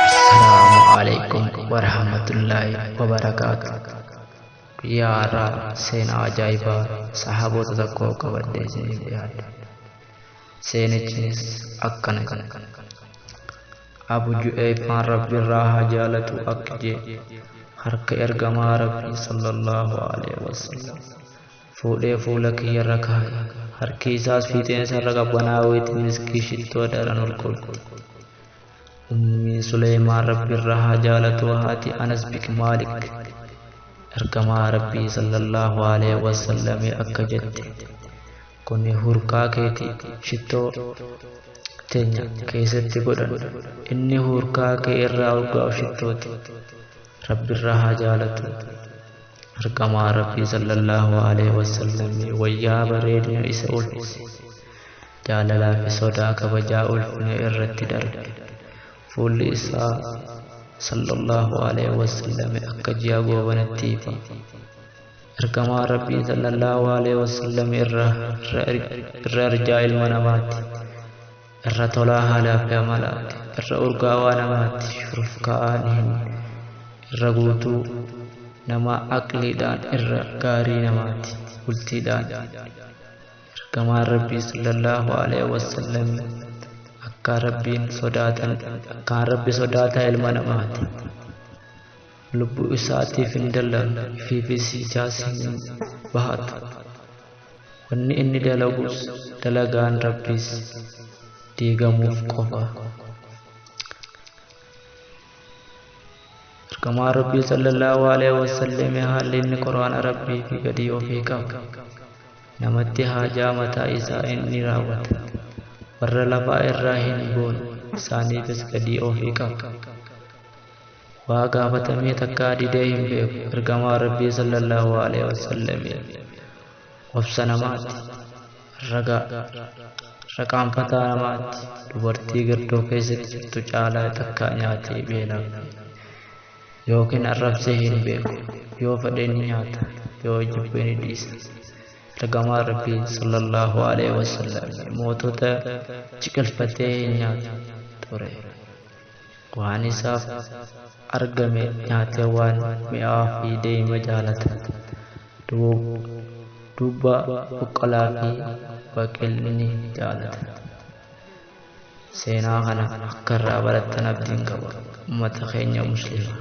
Assalamu alaikum warahmatullahi wabarakatuh. Guyyaa har'aa seenaa ajaa'ibaa sahaabota tokkoo qabadhee isiniif dhiyaadha. Seenichis akkana kana. Abu Ju'eefaan Rabbi irraa haa jaalatu akka jee harka ergamaa Rabbii sallallahu alaihi wasallam. fuudhee fuula kiyya irra kaaye. Harki isaas fiixeensa irra qabbanaa'uu itti miskii shittoo daran ol kolfe. Ummi Suleymaan Rabbi irraa haa jaalatuu haati Anas bik Maalik. Ergamaa Rabbii sallallahu alaihi wasallamii akka jette. Kuni hurkaa keeti shittoo teenya keessatti godhan. Inni hurkaa kee irraa urgaa'u shittooti. Rabbi irraa haa jaalatu. Ergamaa Rabbii sallallahu aleyhi wasallamii wayyaa bareedina isa ulfise, jaalalaa fi sodaa kabajaa ulfina irratti darbe. Fuulli isaa sallallahu aleyhi wasallami akka ji'a goobanatti ifa. Ergamaa Rabbii sallallahu aleyhi wasallami irra irra irjaa ilma namaati. Irra tolaa haalaa fi amalaati. Irra urgaawaa namaati. Shurufkaa'aan hin irra guutuu namaa aqliidhaan irra gaarii namaati. Bultiidhaan ergamaan Rabbii sallallahu alaihi wasallam akkaan Rabbiin sodaatan akkaan Rabbi sodaataa ilma namaati. Lubbuu isaatiif hin dallanne ifiifis ijaas hin bahatu. Wanni inni dalagus dalagaan Rabbiis diigamuuf qofa. Ergamaa Rabbii sallallahu alaihi wasallam haalli inni Qur'aana Rabbii fi gadii ofii qabu. Namatti haajaa mataa isaa inni raawwata. Warra lafaa irraa hin goone isaaniifis gadii ofii qabu. Waa gaafatamee takkaa didee hin beeku ergamaan Rabbii sallallaahu aleeyhi wasallamiin obsa namaatti ragaa raqaanfataa namaatti dubartii girdoo keessatti jirtu caalaa takkaa nyaatee beelaa yookiin arrabsee hin beeku yoo fedhe ni nyaata yoo jibbe ni dhiisa ergamaan Rabbii sallallaahu aleeyhi wasallam mootota ciqilfatee hin nyaatu ture. Waan isaaf argame nyaatee waan mi'aawaa fi deeyma jaalata. Duubba buqqalaa fi baqil ni jaalata. Seenaa kana akka irraa barattan abdiin qaba. Ummata keenya Muslimaa.